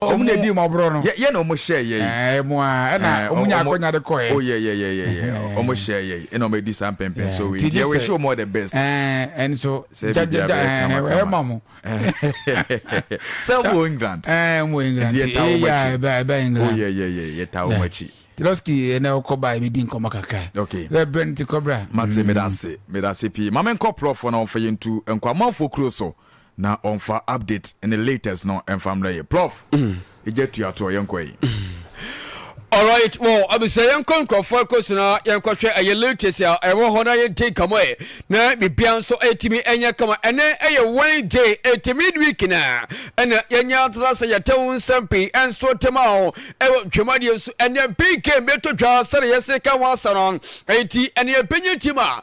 Ɔmo na edii mmɔborɔ no. Yɛ, yɛ na ɔmo hyɛɛ yɛi. Ɛɛ, mo a, ɛna Ɛɛ, ɔmo ɔmo, nyaa ɔmo, akɔnya de kɔɛ. oh, yɛ, yɛ, yɛ, yɛ, yɛ, ɔ, ɔmo Ɛɛ. hyɛɛ yɛi, ɛna ɔmo adi saa mpɛnpɛnsoɔ Ɛɛ, wei, nti nti gye yɛ wish sɛ, you all the best. ɛɛ, ɛnso, Sɛ gya, gya, biribiara gya, bɛyɛ ɛɛ, kama, kama. ɛma mo. Sɛ mo wɔ England. Ɛɛ, mo wɔ England, Nti nti, yɛtaa wɔn eya, akyi. ɛbɛ, ɛbɛ Oh, England. yɛ, yɛ, yɛ, yɛtaa wɔn Dɛ. akyi. Nti Lɔski, ɛnɛ ɔkɔ ba, yɛbɛdi nkɔmmɔ kakra. Okay. Ɛ, berɛ no nti kɔ bra. Mate, meda ase, meda ase pii. Ma menkɔ prɔfoɔ na wɔmfa yɛntu nkɔ amanfoɔ kuro so. na ɔnfa update ne latest no ɛnfa mmerɛ yɛ prof gya tua toɔ yɛnkɔ yi. Alright wɔ abisa yɛnkɔ nkurɔfoɔ ɛkɔsi na yɛnkɔ hwɛ ɛyɛ latest a ɛwɔ hɔ na yɛdi nkamo ɛ na bibia nso ɛtumi ɛnyɛ kama ɛnɛ ɛyɛ Wednesday ɛti midweek na ɛna yɛnyɛ atena sɛ yɛtɛ wo nsɛm pii ɛnso tema ho ɛwɔ dwumadie so ɛnɛ big game bɛtɔ dwa sɛne yɛse ka ho asɛ no ɛti ɛne ɛbɛnyɛ tim a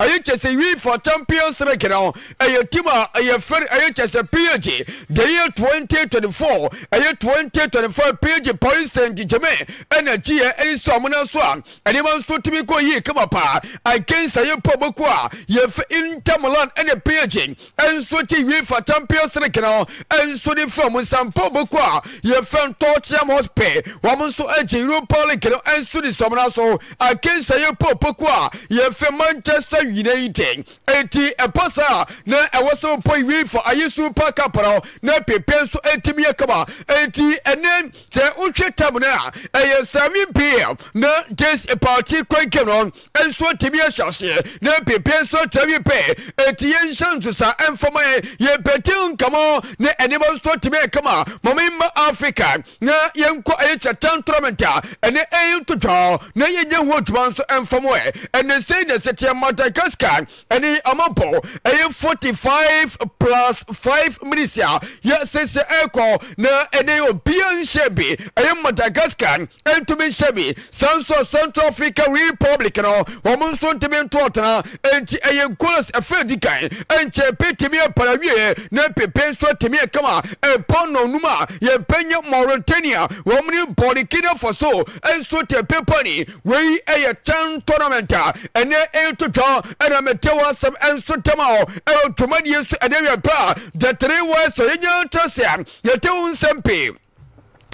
ɛyɛ kyɛ sɛ wi fa champion strike no ɛyɛ team a ɛyɛ fɛre ɛyɛ kyɛ sɛ page the year 2024 ɛyɛ 2025 page paris saint germain ɛna kyiɛ ɛne sɛ ɔmo no so a ɛnneɛma nso tumi kɔ yie kama paa ankensa yɛ pɔ bɔku a yɛfɛ inter milan ɛne page nso kye wie fata mpio sere kena nso de fa mu sampo boko a yɛfɛn tɔɔkyeam hot pɛ wɔn nso kye europa league no nso de sɔmena so akensa yɛ popoko a yɛfɛ manchester united eti ɛpa saa na ɛwɔ sɛ wɔpɔ wie fa ayɛ super cup no na pepe nso etimi yɛ kama eti ɛnɛ sɛ wohwɛ tam no a ɛyɛ sami pm na jes party kwan kɛm no nso atumi ahyɛ aseɛ na ɛpepie nso atumi pɛ ɛti yɛn nhyɛ nso saa ɛmfama yɛn yɛn pɛti nkamɔ ne ɛnneɛma nso atumi ɛkama mama mma africa na yɛnkɔ ɛyɛ kyɛtan tournament a ɛne ɛyɛ ntotwa na yɛnyɛ ho adwuma nso ɛmfama ɛ ɛne sɛ na ɛsɛ teɛ madagascar ɛne ɔmo bɔ ɛyɛ forty five plus five minutes a yɛ sese ɛkɔ na ɛne obia nhyɛ bi ɛyɛ madagascar ɛntumi nhyɛ bi saa nso central africa republic no ɔmo nso ntumi nto ɔtena ɛnti ɛyɛ goals ɛfɛ di kan ɛnkyɛ pe tumi ɛpara wie na pepe nso atumi ɛkama ɛbɔ nɔnum a yɛbɛnyɛ mauritania wɔn ne burkina faso ɛnso tɛ pepa ni Wei yɛ Chan tournament a ɛnɛ ɛreto dwa ɛna mete w'asɛm nso dɛm a ɛwɔ dwumadie nso ɛnɛ wiɛ pɛ a the three words a yɛnya nkyerɛsɛ a yɛte ho nsɛm pii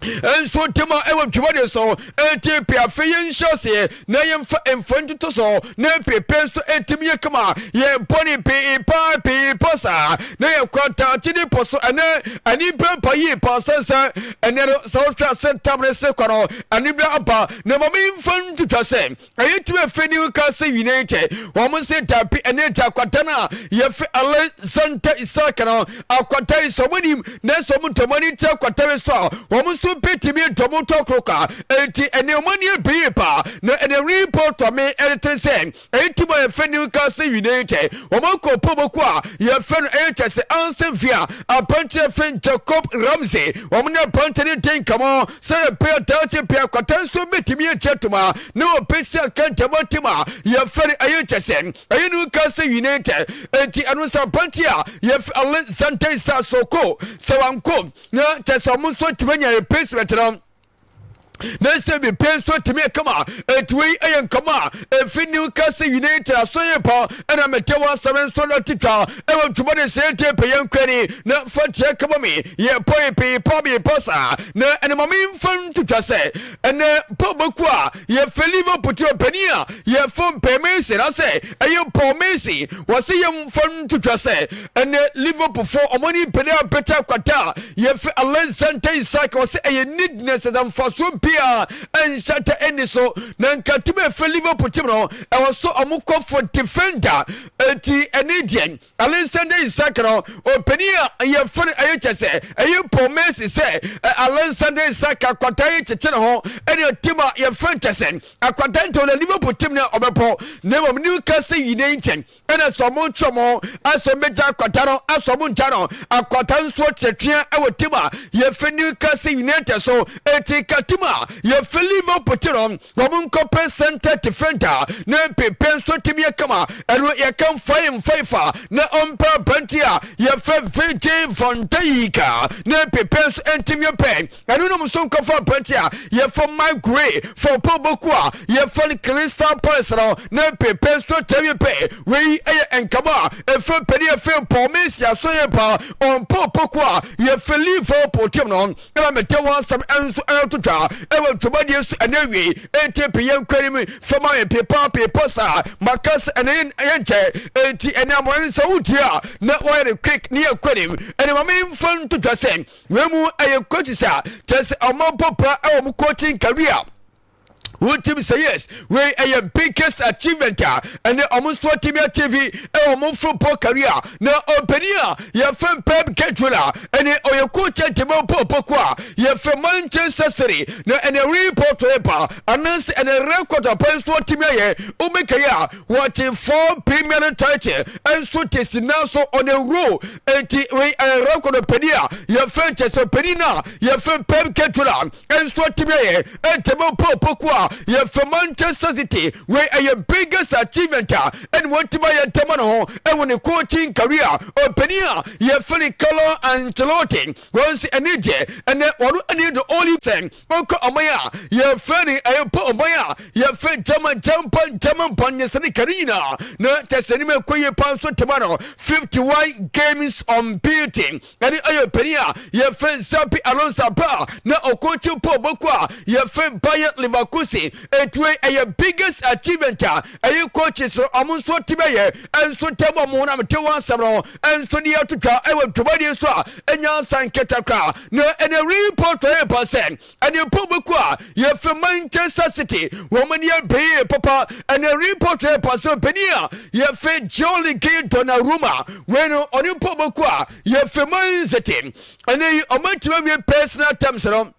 nso dɛm a ɛwɔ dwumadie so ɛti pɛ afei yɛnhyɛ aseɛ na yɛmfa mfa ntoto so na ɛpepe nso ɛtumi yɛ kama yɛbɔ ne pii paa pii pa saa na yɛkɔ daakye ne pɔ so ɛnɛ ani bɛmpa yie paa sɛnsɛ ɛnɛ no sɛ wohwɛ ase tam ne se kɔ no ani bɛ aba Na ma memfa no ntwitwa sɛ ɛyɛ tumi a ɛfiri ne ho ka sɛ nyina yi kyɛ. Wɔn se, Dabi, ɛno ɛte akwadaa no a yɛfrɛ Alexander Isak no. Akwadaa yi so wɔn nim, nanso wɔn dɔ wɔn ani kyerɛ akwadaa yi so a wɔn nso bɛtumi adɔ wɔn tɔ koro kwa. Enti ɛnneɛ wɔn ani abue yie paa. Na ɛnna Ripple tɔ me ɛretene sɛ, Eyi ti ma yɛfrɛ New Castle United wɔn akuapɔmako a yɛfrɛ no ɛyɛ kyɛ sɛ Anson Via, Apanteɛ Finn, Jacob Ramsey, wɔn ne aberanteɛ no di nkɔmmɔ sɛ yɛpɛ a daakye pɛ akwata nso bɛtumi agye atom a na wɔpɛ si aka ntɛmɔ tim a yɛfrɛ no ɛyɛ kyɛ sɛ ɛyɛ New Castle United enti ɛno sɛ aberanteɛ a yɛfrɛ Alexander Isaac Soko sɛ wanko na kyɛ sɛ wɔn nso atumi anya replacement no ne nsɛm bi pɛn nso tumi kama enti wei yɛ nkɔmɔ a ɛfi new castle united asɔyɛ pa ɛna mete wɔ asɛm nso no titwa ɛwɔ ntoma ne sɛ te pɛyɛ nkwani na fa teɛ kama me yɛ pɔe pee pa me pa saa na ɛne ma memfa ntitwa sɛ ɛnɛ pɔ bɛku a yɛfɛ liverpool te ɔpani a yɛfo mpɛ mesi na sɛ ɛyɛ pɔ mesi wɔ se yɛmfa ntitwa sɛ Ɛnɛ Liverpool fo wɔn ani pene abɛkyɛ akwata a yɛfrɛ Alexander Isak. Wɔsɛ ɛyɛ needness ɛsɛ mfasoɔ biara ɛnhyɛtɛ ɛni so. Na nka tim a ɛfrɛ Liverpool tim no ɛwɔ so wɔn kɔ for defender. Eti ɛne deɛ Alexander Isak no ɔpanin a yɛfrɛ no ɛyɛ kyɛ sɛ ɛyɛ Paul Mercy sɛ Alexander Isak akwata yi kyekye ne ho ɛne tim a yɛfrɛ nkyɛ sɛ akwata ntɛw na Liverpool tim no ɔbɛpɔ na mmom Newcastle United ɛna sɛ ɔmo ntwe mo asɛ ɔmo bɛgya akwata no asɛ ɔmo ngya no akwata nsuo tiatia ɛwɔ tim a yɛfɛ Newcastle United so eti ka tim a yɛfɛ Liverpool ti no ɔmo nkɔpɛ center defender na mpepe nso tim yɛ kama ɛno yɛka mfa yɛ mfa ifa na ɔmpa abante a yɛfɛ Virgil van Dijk na mpepe nso ntim yɛ pɛ Ɛno nom nso nkɔfa aberante a yɛfɔ Mike Gray fa ɔpɛ ɔbɔku a yɛfɔ no Crystal Palace no ne pepe nso atɛwie pɛ. Wei yɛ nkama a ɛfɛ pɛni ɛfɛ mpɔ mesi aso yɛ pa ɔmpɔ ɔpɔku a yɛfɛ Liverpool team no ɛna mɛtɛ wɔn asɛm nso ɛyɛ totwa ɛwɔ ntwomadiɛ nso ɛna awie ɛnti pe yɛn kwari mu fama yɛn pepa pepa saa makasa ɛna yɛn yɛn kyɛ ɛnti ɛna amɔyɛ no sɛ wotie a na wɔyɛ no quick ne yɛ kwanim ɛna ma memfa ntotwa sɛ Wei mu ɛyɛ coaches a kyerɛ sɛ ɔmo abɔ paa ɛwɔ mo coaching career wotim sɛ yes wei ɛyɛ biggest achievement a ɛnɛ ɔmo nso atumi achieve ɛwɔ ɔmo football career na ɔpanin a yɛfrɛ Pep Guardiola ɛnɛ ɔyɛ coach a dema bɔ bɔko a yɛfrɛ Manchester City na ɛnɛ report yɛ ba anaasɛ ɛnɛ record aban nso atumi ayɛ wobɛkɛyɛ a wɔgye four premier title ɛnso te sina so on a row Enti wei ɛyɛ rɛkɔdɔ panin a yɛfrɛ kyɛ sɛ panin a yɛfrɛ Pep Guardiola nso atumi ayɛ ntɛm mpo opoku a yɛfrɛ Manchester City wei ɛyɛ biggest achievement a ɛna wɔatumi ayɛ ntɛm no ho ɛwɔ ne coaching career ɔpanin a yɛfrɛ ne Carlo Ancelotti wɔn nso ɛne deɛ ɛnɛ wɔn ani do only ten Mokɔ ɔman a yɛfrɛ no ɛyɛ pɔ ɔman a yɛfrɛ German German German bɔn nyɛ sɛ ne kari nyinaa na kyɛ sɛ anim ɛkɔ yie paa nso tema no 51 games on beating ɛne ɔyɛ panin a yɛfrɛ Xabi Alonso abra na ɔkɔkye pɔ ɔbɔko a yɛfrɛ Bayer Leverkusen ɛtuwe ɛyɛ biggest achievement a Ɛyi coaches no wɔn nso ti bɛyɛ nso tɛm wɔn honam te wɔn asɛm no nso de atotwa wɔ dwumadi nso a ɛnya nsa nketa kora na ɛna report ɔyɛ ba sɛ ɛne pɔ bɛku a yɛfrɛ Manchester City wɔn ani abɛyɛ papa ɛna report ɔyɛ ba sɛ ɔbɛni a yɛfrɛ Gianluigi Donnarumma wei no ɔne pɔ bɛku a yɛfrɛ Man City ɛne yi ɔmatumi awie personal terms no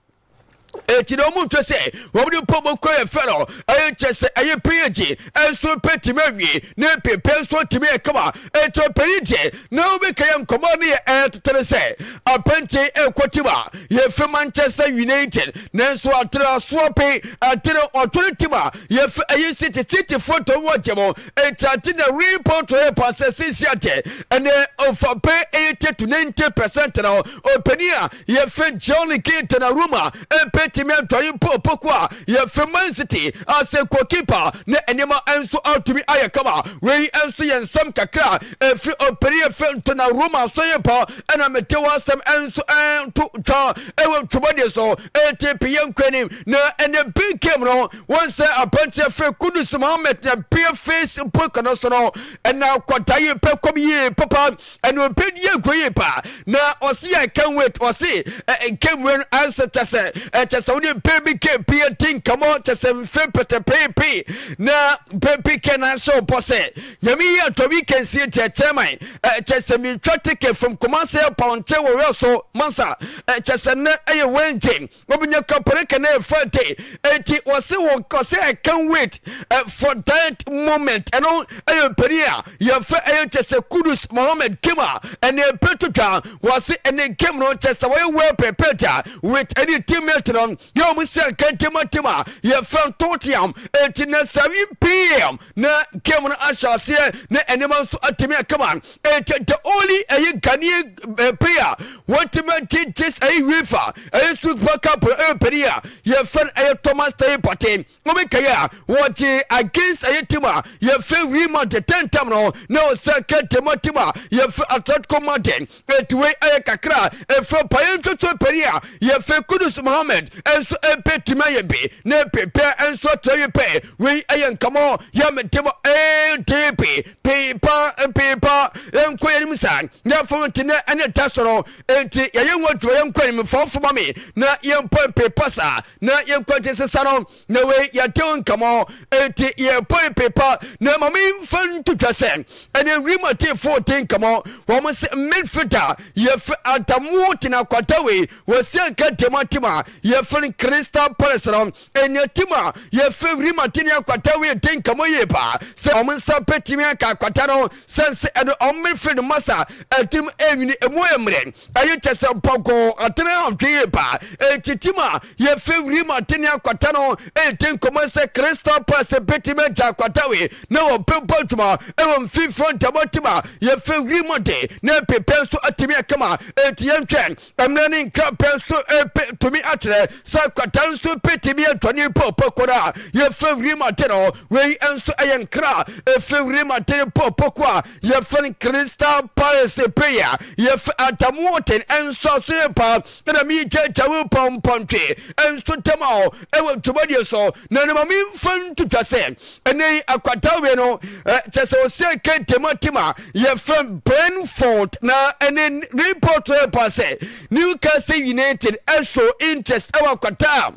enti na wɔn nhwɛ sɛ wɔn de mpɔ mu kɔ yɛ fɛ no ɛyɛ kyɛ sɛ ɛyɛ pɛ yɛ gye nso pɛ tumi awie ne pepɛ nso tumi yɛ kama enti ɔpɛ yi gye na wobɛka yɛ nkɔmɔ ne yɛ ɛyɛ tetene sɛ apɛnti ɛkɔ tim a yɛfɛ Manchester United nanso atene asoɔ pe atene ɔtɔre tim a yɛfɛ ɛyɛ City City foɔ tɔn wɔ gye mo enti ate na wei pɔtɔ yɛ paasɛ sisi adeɛ ɛnɛ ɔfa pɛ ɛyɛ tɛtu 90 percent na ɔpɛni a Yɛfe Johnny Keaton Aruma mpetimi adwane mpo opoku a yɛfe Man City asɛ goalkeeper ne nneɛma nso atumi ayɛ kama. Wei nso yɛ nsɛm kakra a ɛfiri ɔpanin yɛfe Donnarumma Soyinpa ɛna mede w'asɛm nso ɛreto dwa ɛwɔ dwumadie so enti pe yɛnkɔ anim na ɛnɛ big game no wɔn sɛ aberanteɛ yɛfe Kudus Mohammed na bia Facebook no so no ɛna akwadaa yi pɛ kɔm yie papa Ɛna ɔpɛ die nkɔ yie paa na ɔsi I can't wait ɔsi ɛnkɛ mu ɛno ansa kyɛ sɛ ɛkyɛ sɛ wode mpɛ bi kɛ pii ɛdi nkɔmɔ kyɛ sɛ mfe pɛtɛpeepe na mpɛ bi kɛ na ahyɛ ɔbɔ sɛ nyame yi atɔ bi kɛ nsie ti ɛkyɛ man ɛkyɛ sɛ metwa teke from Kumasi ɛpɔn kyɛ wɔ wɛ so mansa ɛkyɛ sɛ nnɛ ɛyɛ Wednesday Wobenya kɔpere ka na ɛfa de enti wɔse wo kɔsɛ I can't wait uh, for that moment ɛno ɛyɛ mpanin a yɛfɛ ɛyɛ kyɛ sɛ Kudus Mohammed game a ɛne ɛpɛ to dwa wɔse ɛne game no kyɛ sɛ wɔyɛ well prepared a with ɛne teammate no yɛ wɔn sɛ kɛntɛma team a yɛfɛ ntoteam enti na 7 pm na game no ahyɛ aseɛ na ɛnneɛma nso atumi akama Enti the only ɛyɛ Ghanaian eh, player wɔntumi agye gyes ɛyɛ UEFA ɛyɛ Super Cup no ɛyɛ panin a yɛfrɛ no ɛyɛ Thomas Teye Partey wɔbɛkae a wɔgye against ɛyɛ team a yɛfrɛ Real Madrid tɛntɛm no na ɔsɛ kɛntɛm ma team a yɛfrɛ Atletico Madrid enti wei ɛyɛ kakra a ɛfrɛ panin ntotoɔ panin a yɛfrɛ Kudus Mohammed nso ɛbɛtumi ayɛ bi na ɛpepɛ nso akyerɛ yɛ pɛ wei ɛyɛ nkɔmmɔ yɛ me de ma ADP Peepa peepa yɛnkɔ yɛnim saa yɛfo ntenɛ ɛne da soro enti yɛyɛ ho adwuma yɛnkɔ anim fɔmfo ma me na yɛmpɔ peepa saa na yɛnkɔ nte sesa no na wei yɛde wo nkamɔ enti yɛpɔ peepa na ma me mfa nto dwa sɛ ɛne wiem ateefo de nkamɔ wɔn sɛ midfielder yɛfɛ adamu tena kwata wei wɔsi anka diamante ma yɛfɛ Crystal Palace no Nniatim a yɛfrɛ wim atenni akwata wei den ka mo yie paa sɛ wɔn nsa bɛtumi aka akwata no sɛn sɛ ɛde wɔn mmere firi no masa ɛtirim ɛnwini ɛmu ɛmmerɛ ɛyɛ kyɛ sɛ mpɔnkɔɔ atene ahwɛ yie paa ɛtitim a yɛfrɛ wim atenni akwata no ɛyɛ den kɔmɔ sɛ crystal pass bɛtumi agya akwata wei na wɔbɛbɔ adwuma ɛwɔ mfimfini ɔntam atim a yɛfrɛ wim ɔde na ɛpepɛ nso atumi akama ɛti yɛnhwɛ Mmara ne nkrapɛ nso pe tumi akyerɛ sɛ kwata nso pe tumi yɛ dwane pɔpɔ koro a yɛfrɛ wirim ate no. Wei nso yɛ nkra a ɛfiri wirim ate no pɔpɔ ko a yɛfrɛ no crystal paris pe a yɛfrɛ atamuoten nso aso yɛ pa na mi kyɛkyɛ wo pɔmpɔntwe nso tɛm a ɛwɔ dwumadie so na ne ma memfa ntutwa sɛ Ɛnɛ yi akwata wei no kyɛ sɛ ɔsɛ kente mu atim a yɛfrɛ Brentford na ɛne report no ɛpa sɛ Newcastle United ɛso interest ɛwɔ akwata a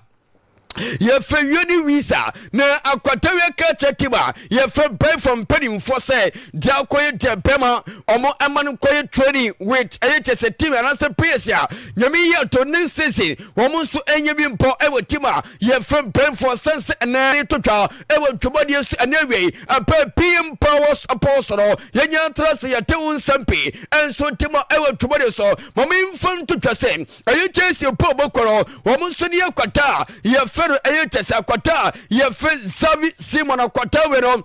yɛfrɛ wioni wisa na akwata wia ka kyɛ tim a yɛfrɛ bɛfɔ mpanimfoɔ sɛ deɛ akɔyɛ deɛ bɛma ɔmo ɛma no kɔyɛ training with ɛyɛ kyɛ sɛ tim anaasɛ players a nyame yɛ to ne season wɔn nso ɛnyɛ bi mpɔ ɛwɔ tim a Yɛfrɛ mpanyimfoɔ sɛn sɛ ɛnɛ reto twa wɔ Twam adeɛ so ɛne awiei ɛpɛ pii mpa wɔ supɔw so no yɛnya ntra sɛ yɛte ho nsɛm pii nso nte ma ɛwɔ Twam adeɛ so ma memfa nto twa sɛ ɛyɛ kyɛsie po bɔkɔ no wɔn nso ne akwata a yɛfrɛ no ɛyɛ kyɛsie akwata a yɛfrɛ Xavi Simon akwata wei no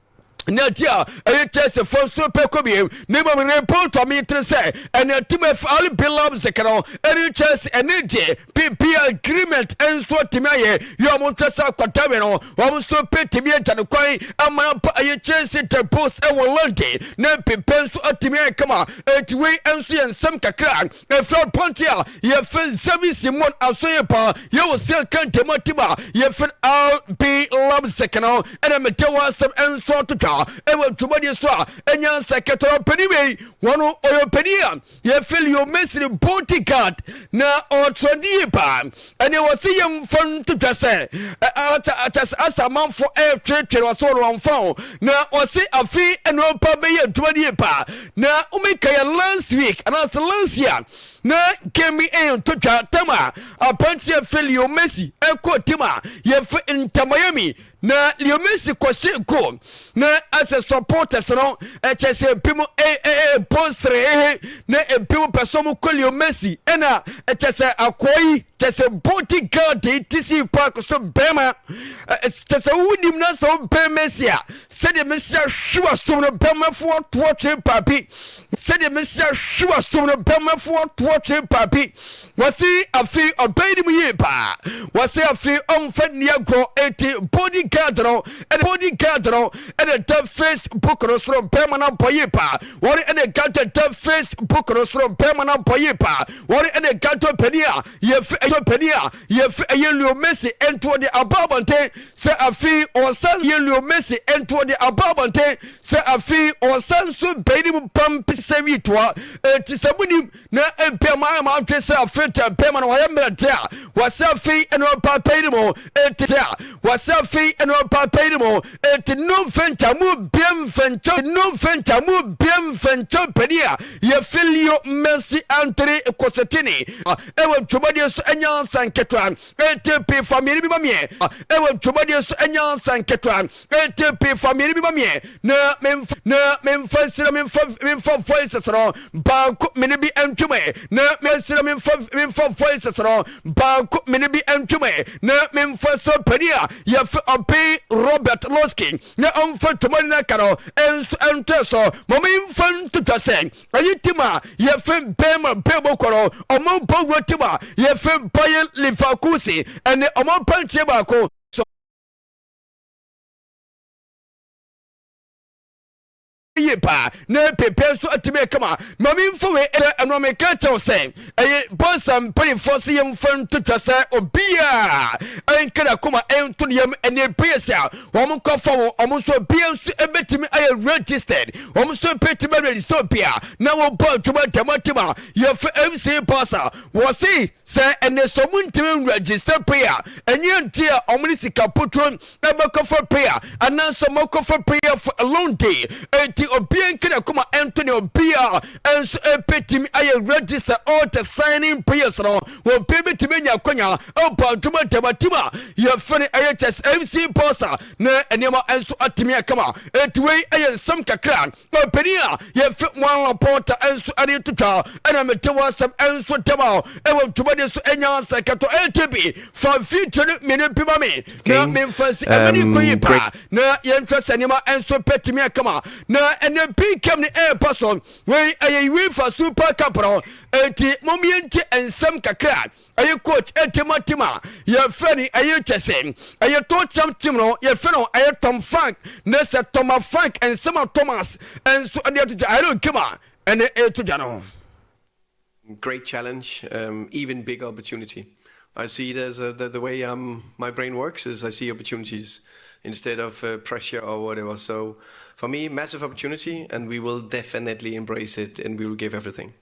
na ti a ɛyɛ kyɛse fam so pɛ kɔ biem na mmom ne mpɔntɔ metene sɛ ɛne ntimafu ali bilam zekero ɛne kyɛse ɛne gye pp agreement nso atumi ayɛ yɛ ɔmo nkyɛ sɛ akɔdawe no ɔmo nso bɛtumi agya no kwan ama no ba ɛyɛ kyɛse the post ɛwɔ london na pp nso atumi ayɛ kama ɛti wei nso yɛ nsɛm kakra Efir pɔnkye a yɛfir nsɛm yi si mmɔn aso yie paa. Yɛwɔ sia ka ntam atim a yɛfir RB Lab Sekena ho ɛna mete hɔ asɛm nso atotwa ɛwɔ dwumadie so a ɛnya nsa kɛtɔrɔ ɔpanin wei wɔn ɔyɛ ɔpanin a yɛfir Leo Mesri Bontigard na ɔtrɛndi yie paa. Ɛnneɛ wɔse yɛmfa nto dwa sɛ kyɛs asamanfo ɛretweretwere wɔse wɔn wɔmfa ho na wɔse afe nnoɔpa bɛyɛ adwuma no yie paa na womeka yɛ last week anaasɛ last year na game ɛyɛ nto dwa tam a apanteɛ felio messi ɛkɔ tim a yɛfɛ ntamayami Na Leo Messi kɔhye go na asɛ supporters no ɛkyɛ sɛ ebinom ɛbɔ serehehe na ebinom pɛ sɛ wɔkɔ Leo Messi ɛna ɛkyɛ sɛ akɔɔ yi kyɛ sɛ body guard yi ti si paako so bɛrima kyɛ sɛ wonim na sɛ wobɛn Messi a sɛdeɛ Messi ahwe wasom no bɛrmafo atoɔ twe paabi sɛdeɛ Messi ahwe wasom no bɛrmafo atoɔ twe paabi Wɔse afei ɔbɛn ne mu yie paa. Wɔse afei ɔmfa nni agorɔ eti body guard no ɛna body guard no ɛna da Facebook no soro bɛrima no abɔ yie paa. Wɔn ɛna gato da Facebook no soro bɛrima no abɔ yie paa. Wɔn ɛna gato panin a yɛfi ɛyɛ panin a yɛfi ɛyɛ Leo Messi ntoɔ de aba abɔnten sɛ afei ɔsan yɛ Leo Messi ntoɔ de aba abɔnten sɛ afei ɔsan so bɛn ne mu pam pisɛ wi toa eti sɛ mo nim na ebia moayɛ mo adwene sɛ afei deɛ bɛrima no wayɛ mmerɛ deɛ a wɔsɛ afei ɛne ɔbaa bɛyere mu enti deɛ a wɔsɛ afei ɛne ɔbaa bɛyere mu enti no mfɛnkyɛ mu bie mfɛnkyɛ no mfɛnkyɛ mu bie mfɛnkyɛ panin a yɛfiri leo mɛnsi antoni kɔsɛtini ɛwɔ dwumadie so ɛnya nsa nketewa enti pii fa mmienu bi ma meɛ ɛwɔ dwumadie so ɛnya nsa nketewa Enti pii fa mmienu bi ma meɛ na memfa na memfa nsira memfa memfa voices no baako mene bi ntwem ɛ na mensira memfa memfa voices no baako mene bi ntwem ɛ na memfa sɛ panin a yɛfɛ ɔpen Robert Losky na ɔmfa tomani no aka no nso ntoɛ so ma memfa ntotwa sɛ ɛyi tim a yɛfɛ Bema Bebo kɔrɔ ɔmo bɔ wura tim a yɛfɛ Bayer Leverkusen ɛne ɔmo pantie baako yie paa na pɛpɛ nso atumi kama ma memfa wei ɛyɛ ɛno a meka kyɛw sɛ ɛyɛ bɔnsa mpanimfoɔ se yɛmfa ntotwa sɛ obiaa ɛnka nakoma ɛnto ne yam ɛne ɛpɛyɛsi a wɔn kɔfa wɔn wɔn nso obia nso ɛbɛtumi ayɛ registered wɔn nso ɛbɛtumi aregister obia na wɔbɔ adwuma dɛmɔtem a yɛfa mc bɔnsa wɔ se Sɛ ɛnɛ sɛ ɔmo ntumi nwura gyesɛ pay a, ɛnyɛ nti a ɔmo ne sika puturo ɛbɛkɔfa pay a, anaasɛ ɔmo akɔfa pay a for a long day. Enti obiara nka n'akoma nto nea obiara nso ɛbetumi ayɛ ready sɛ ɔɔtɛ signing prayers no. Obiara betumi anya akwanya abɔ adwuma dɛm atim a yɛfrɛ no ɛyɛ chess MC Bossa na nneɛma nso atumi akama. Enti wei ɛyɛ nsɛm kakra. Papanin a yɛfrɛ Juan Laporta nso ani to twa na mete w'asɛm nso ntɛm a ɛwɔ ntwomadi so nya sɛ kɛtɔ ATB fa video no mmienu bi ma me na memfa si ɛmɛ ne kɔ yi paa na yɛntwa sɛ nneɛma nso pɛtumi akama na ɛnɛ PKM ne ɛɛpa so wei ɛyɛ UEFA Super Cup no enti mom yɛnti nsɛm kakra ɛyɛ coach ɛtɛma team a yɛfrɛ no ɛyɛ kyɛ sɛ ɛyɛ tɔkyɛm team no yɛfrɛ no ɛyɛ tom frank ne sɛ toma frank nsɛma thomas nso ɛde ato dwa ɛyɛ game a ɛne ɛto dwa no great challenge um, even big opportunity I see there's a, the, the way um, my brain works is I see opportunities instead of uh, pressure or whatever. So for me, massive opportunity, and we will definitely embrace it and we will give everything.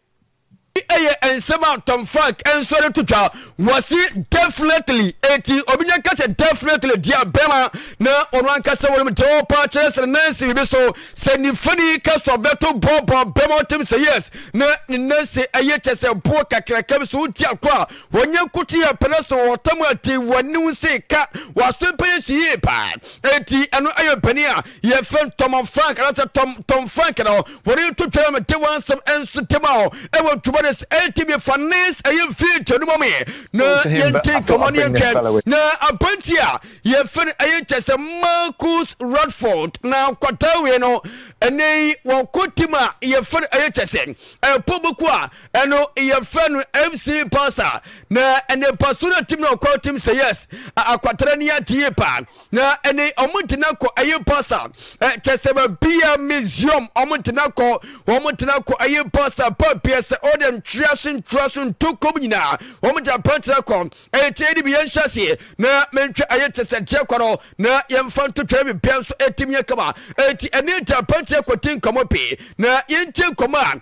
Ɛyɛ nsɛm a Tom Frank nsɔre to twa. Wɔse definitely, enti obi nyɛ ka sɛ definitely deɛ bɛma na ɔno ankasa wɔnom dɔɔ paa kyerɛ sɛ Nancy bibi so. Sɛ nifani ka sɛ ɔbɛto bɔɔbɔ bɛma ɔtem sɛ yes na ne Nancy ɛyɛ kyɛ sɛ boɔ kakraka bi so wodi agorɔ a wɔnyɛ nkote yɛ pɛ na sɛ wɔwɔ tam a te wɔne wo se ka wɔaso pɛ yɛ hyɛ yie paa enti ɛno ɛyɛ ɔpanin a yɛfrɛ no Tom and Frank anaasɛ Tom Tom Frank na hɔ wɔde yɛto twɛrɛ me de wansɛm nso tema hɔ ɛwɔ ntoma de ATV fa nes ɛyɛ mfie nkyɛ no mɔmyɛ na yɛnte nkɔmmɔ ne yɛntwɛn na abranti a yɛfrɛ no ɛyɛ nkyɛ sɛ Marcus Radford na nkwataa wie no ɛnɛ yi wɔko tim a yɛfrɛ no ɛyɛ kyɛ sɛ ɛpɔ boko a ɛno yɛfrɛ no MC Pasa na ɛnɛ paso no tim na ɔkɔ tim sɛ yes akwatara ni atie paa na ɛne wɔn tena kɔ ɛyɛ basa kyɛ sɛ baabi a museum wɔn tena kɔ wɔn tena kɔ ɛyɛ basa baabi a sɛ ɔde ntwea so ntwea so ntokom nyinaa wɔn tena pɛn tena kɔ ɛyɛ tie de bi yɛn hyɛ aseɛ na mentwa ɛyɛ kyɛ sɛ deɛ kɔ no na yɛmfa ntotwa bi bia nso ɛtim yɛ kama ɛti ɛne tena pɛn tena kɔ ti nkɔmɔ pii na yɛntie nkɔmɔ a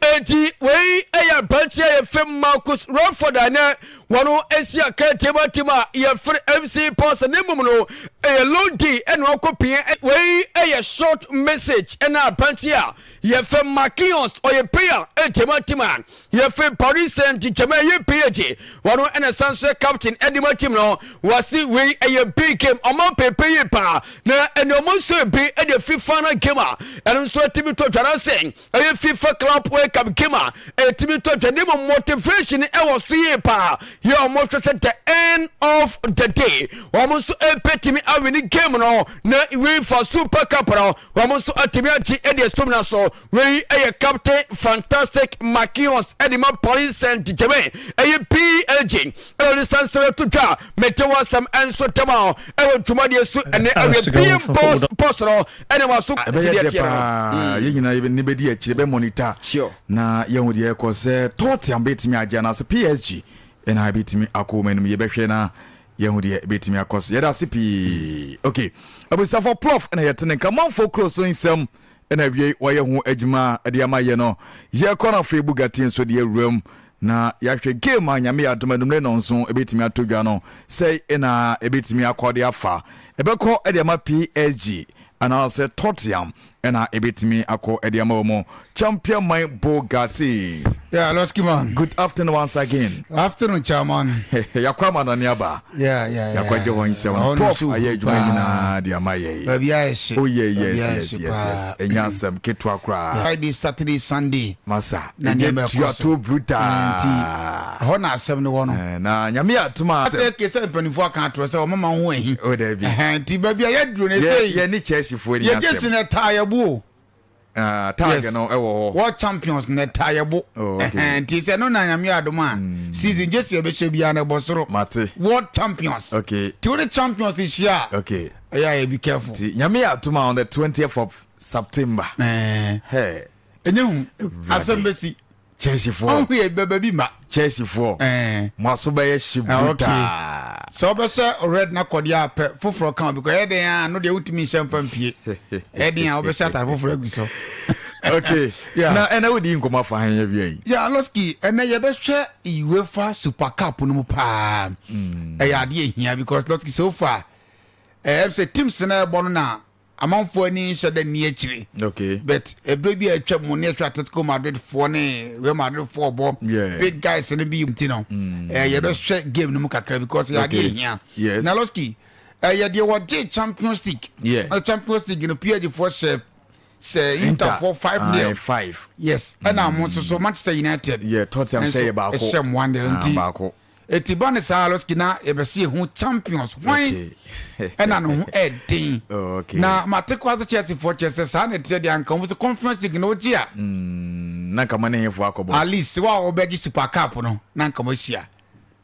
Enti wei yɛ aberanteɛ a yɛfrɛ Marcus Rutherford a nɛ wɔn asi aka timatim a yɛfrɛ MC Pastor ne mmom no ɛyɛ long day ɛna wakɔ pia wei yɛ short message ɛna aberanteɛ a yɛfrɛ Marquinhos ɔyɛ payer timatim a Yɛfiri Paris Saint-Germain ɛyɛ PAG wɔn ɛna ɛsan nso yɛ captain ɛde ma team no wɔsi wei ɛyɛ big game ɔmo pepe yie paa na ɛna ɔmo nso ebi ɛde fi final game a ɛno nso ɛtumi tɔ dwa na sɛ ɛyɛ FIFA Club World Cup game a ɛtumi tɔ dwa ne mu motivation ɛwɔ so yie paa yɛ ɔmo hwɛ sɛ the end of the day ɔmo nso ɛpɛ tumi awini game no na UEFA Super Cup no ɔmo nso ɛtumi agye ɛde esum na so Wei yɛ Captain Fantastic Makios de ma Pauline Saint Germain ɛyɛ PLG ɛna ɔde sansere to dwa mete wɔ asɛm nso tɛm a ɛwɔ dwumadie so ɛnɛ awie BM Boss Boss no ɛna ma so ɛbɛyɛ dɛ paa yɛn nyinaa yɛbɛ ne bɛdi akyire bɛ monitor na yɛn ho deɛ ɛkɔ sɛ Tottenham bɛtumi agye anaasɛ PSG ɛna ɛbɛtumi akɔ wɔn anim yɛbɛhwɛ na yɛn ho deɛ ɛbɛtumi akɔ so yɛda ase pii okay abusafoɔ plof ɛna yɛtene nka manfoɔ kuro so nsɛm na awiei wɔayɛ ho adwuma de ama yɛ no. Yɛkɔ no afei Bugatti nso de awura mu na yɛahwɛ game a Nyame yɛ adom anumere no nso ɛbɛtumi atɔ dwa no. Sɛi na ɛbɛtumi akɔ de afa. Ɛbɛkɔ de ama PSG anaasɛ Tottenham na ɛbɛtumi akɔ de ama wɔn. Champion man Bugatti. Yeah, Losky man. Good afternoon once again. Afternoon, chairman. Yɛakɔ ama no ne aba. Yeah, yeah, yeah. Yɛakɔgye wɔn nsɛm. Ɛhɔ no Prof nso ayɛ hu adwuma paa. nyinaa de ama yɛn. Baabi a ɛhye. Oh yeah, Baabi yes, a yes, ɛhye yes, yes. paa. Ɛnyɛ asɛm ketewa koraa. Friday, Saturday, Sunday. Masa, Na ɛnyɛ nneɛma ɛkɔ so. tuato brutaa. Eh, nti, Ɛhɔ na asɛm no wɔ no. Eh, na Nyame yɛ atom a Asɛ ke sɛ mpanimfoɔ aka atorɔ sɛ ɔmama ho ahi. Oh, daabi. Ɛhɛn, Nti baabi a yɛaduro no Yɛ- ɛsɛ yi. yɛne churchfoɔ ni Yɛgye asɛm. sene ɛtaa yɛbo o. Ah, tag no ɛwɔ eh, hɔ. World champions na ɛta yɛ bo. Oh, okay. Nti sɛ no na nyame adom a mm. season gye sɛ yɛbɛhyɛ biara na ɛbɔ soro. Mate. World champions. Okay. Ti wode champions hyia a. Okay. Ɛyɛ ayɛ be careful. Ti nyame yɛ atom on the 20th of September. Eh. Hey. Ɛnyɛ hu. Asɛm bɛsi. Chelseafoɔ. Ɔn yɛ bɛbɛ bi ma. Chelseafoɔ. Ɛɛ. Mo aso bɛyɛ hye ah, brutaa. Sɛ wobɛhyɛ red na kɔdeɛ a pɛ foforɔ ka obi kɔ ɛyɛ den a no deɛ wotumi nhyɛ mfa mpie. Ɛyɛ den a wobɛhyɛ atare foforɔ agu so. okay. yeah. Na ɛna wodi nkɔmɔ afa han yɛ wia yi. Yeah, Loski, ɛna yɛbɛhwɛ UEFA Super Cup no mu paa. Mm. Ɛyɛ adeɛ ehia because Loski so far ɛɛ sɛ teams na ɛbɔ no na amanfoɔ ani nhyɛ da nni akyire okay. but ɛberɛ bi a atwa mu ne ɛhwɛ Atletico Madrid foɔ ne Real Madrid foɔ bɔ yeah. big guys no bi nti no mm. eh, yɛbɛhwɛ game no mu kakra because yɛadeɛ okay. hia yes. Naloski ɛyɛ eh, deɛ wɔgye Champions League yeah. na Champions League no PSG foɔ hyɛ sɛ inter for five ah, nil five yes ɛna mm. mo nso so manchester united yeah tottenham hyɛ yɛ baako ɛhyɛ mo one nil ah, nti Eti ba ne saa losky na yɛbɛsi ehu champions hwan ɛna ne ho ɛden oh, na mate kora sɛ Chelsea foɔ kyerɛ sɛ saa na ɛteɛ deɛ anka wɔn sɛ conference league na wɔgye a mm, na nka mo ne hefoɔ akɔbɔ at least wa wɔbɛgye super cup no na nka mo ahyia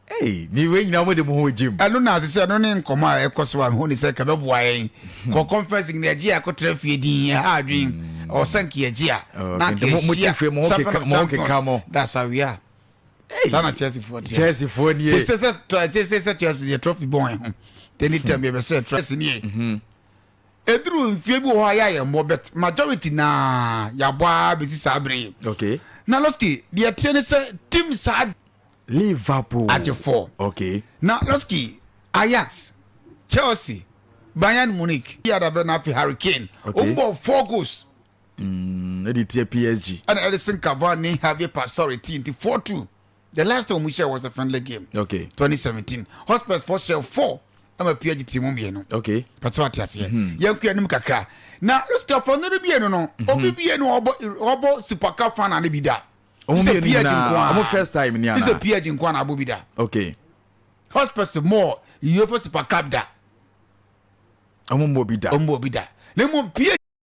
Hey, ni wei nyina wɔde mo ho gyim ɛno na ase sɛ ɛno ne nkɔmɔ a ɛkɔ so a mehu ne sɛ nka bɛboa yɛn hmm. kɔ conference league na ɛgye a ɛkɔtra fie din ɛha adwen hmm. ɔsɛ nka yɛgye a na nka ɛhyia sɛ fɛnɛ champion dasawia saa na chelsea foɔ teɛ chelsea foɔ nie sɛ sɛ sɛ sɛ sɛ chelsea deɛ trophy bɔn ɛho tɛni tɛm yɛ bɛ sɛ chelsea nie mhm. eduru nfie bi wɔ hɔ a yɛayɛ mmɔ bet majority na yɛabɔ a bɛsi saa bere yi okay. na loski deɛ teɛ ne sɛ tim saa liverpool agye four okay. na loski ajax chelsea bayern munich yɛadabɛ na afei harry kane okay. ɔmbɔ four goals ɛde tia PSG. ɛna Edison Cavani ne Javier Pastore ti nti four two the last time wɔn hyɛ was a friendly game okay. twenty seventeen Hotspurs four hyɛ four ɛma PSG ti mu mmienu okay. pɛtɛ wa te aseɛ mm-hmm. yɛn kura anim kakra na lusikafo no de mmienu no mm-hmm. obi mmienu ɔbɔ ɔbɔ super cup final ne bi da sɛ PSG nkoa ɔmo first time ni ana sɛ PSG nkoa na abɔ bi da okay. Hotspurs mɔ UEFA super cup da ɔmo mɔ bi da ɔmo mɔ bi da na mo PSG.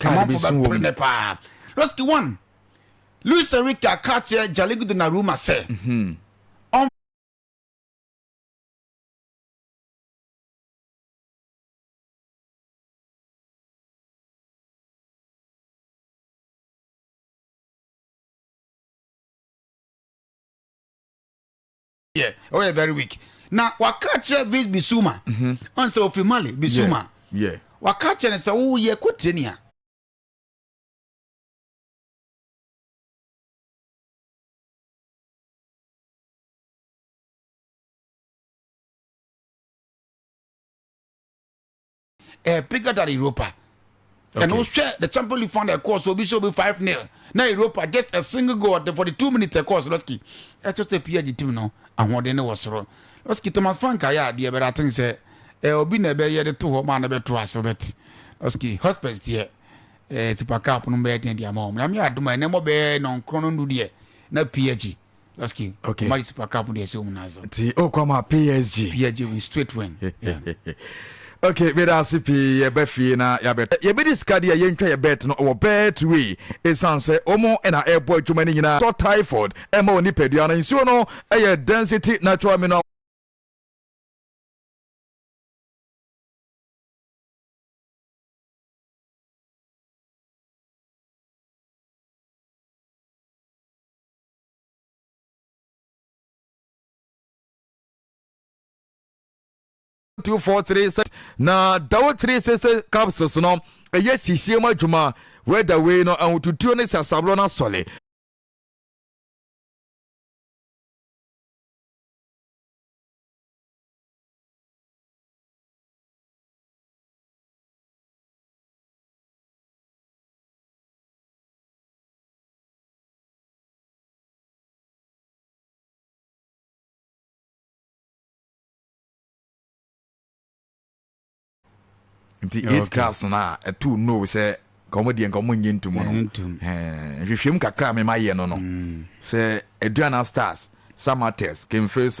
Amanfo bɛpere ne paa. Losky one, Luis Enrique aka akyerɛ Jaligu Donnarumma sɛ mhm. ɔn. yeah oh yeah very weak na waka akyerɛ Vince Bissouma ɔn sɛ ofiri Mali Bissouma yeah waka akyerɛ ne sɛ wo yɛ kɔ training a ɛɛ pega da europa ɛna wohwɛ the champion league final ɛkɔɔ so obi sɛ obi five nil na europa just a single goal the forty two minutes ɛkɔɔ so lɔski ɛkyɛ sɛ pia gye tim no ahoɔden ne wɔ soro lɔski thomas frank ayɛ adeɛ bɛrɛ aten sɛ ɛɛ obi na ɛbɛyɛ de to hɔ maa na ɛbɛto aso bɛt lɔski hospes deɛ ɛɛ super cup no bɛyɛ deɛ deɛ ama wɔn na mi adoma ɛnɛ mo bɛyɛ nɔnkorɔ no ndu deɛ na pia gye Last game. Okay. Omari Super Cup de ɛsɛ wɔn nan so. Ti o kɔ ma PSG. PSG win straight win. okay meda ase pii yɛba fie na yɛabɛtɔ yɛbɛdi sika deɛ yɛntwa yɛ bet no wɔ betway ɛsiane sɛ ɔmo na ɛbɔ adwuma no nyinaa tɔ typhoid ɛma wɔ nipadua no nsuo no ɛyɛ density natural mineral two four three six na dawo three six six capsules no ɛyɛ sisie mu adwuma wɛda wei no ahotutuo ne sasaborɔ no asɔle nti eight okay. crafts no a ɛto no sɛ nkɔmɔ deɛ nkɔmɔ nyɛ ntum no nhwehwɛm kakra a mema yɛ no no mm. sɛ aduana stars samates kemfes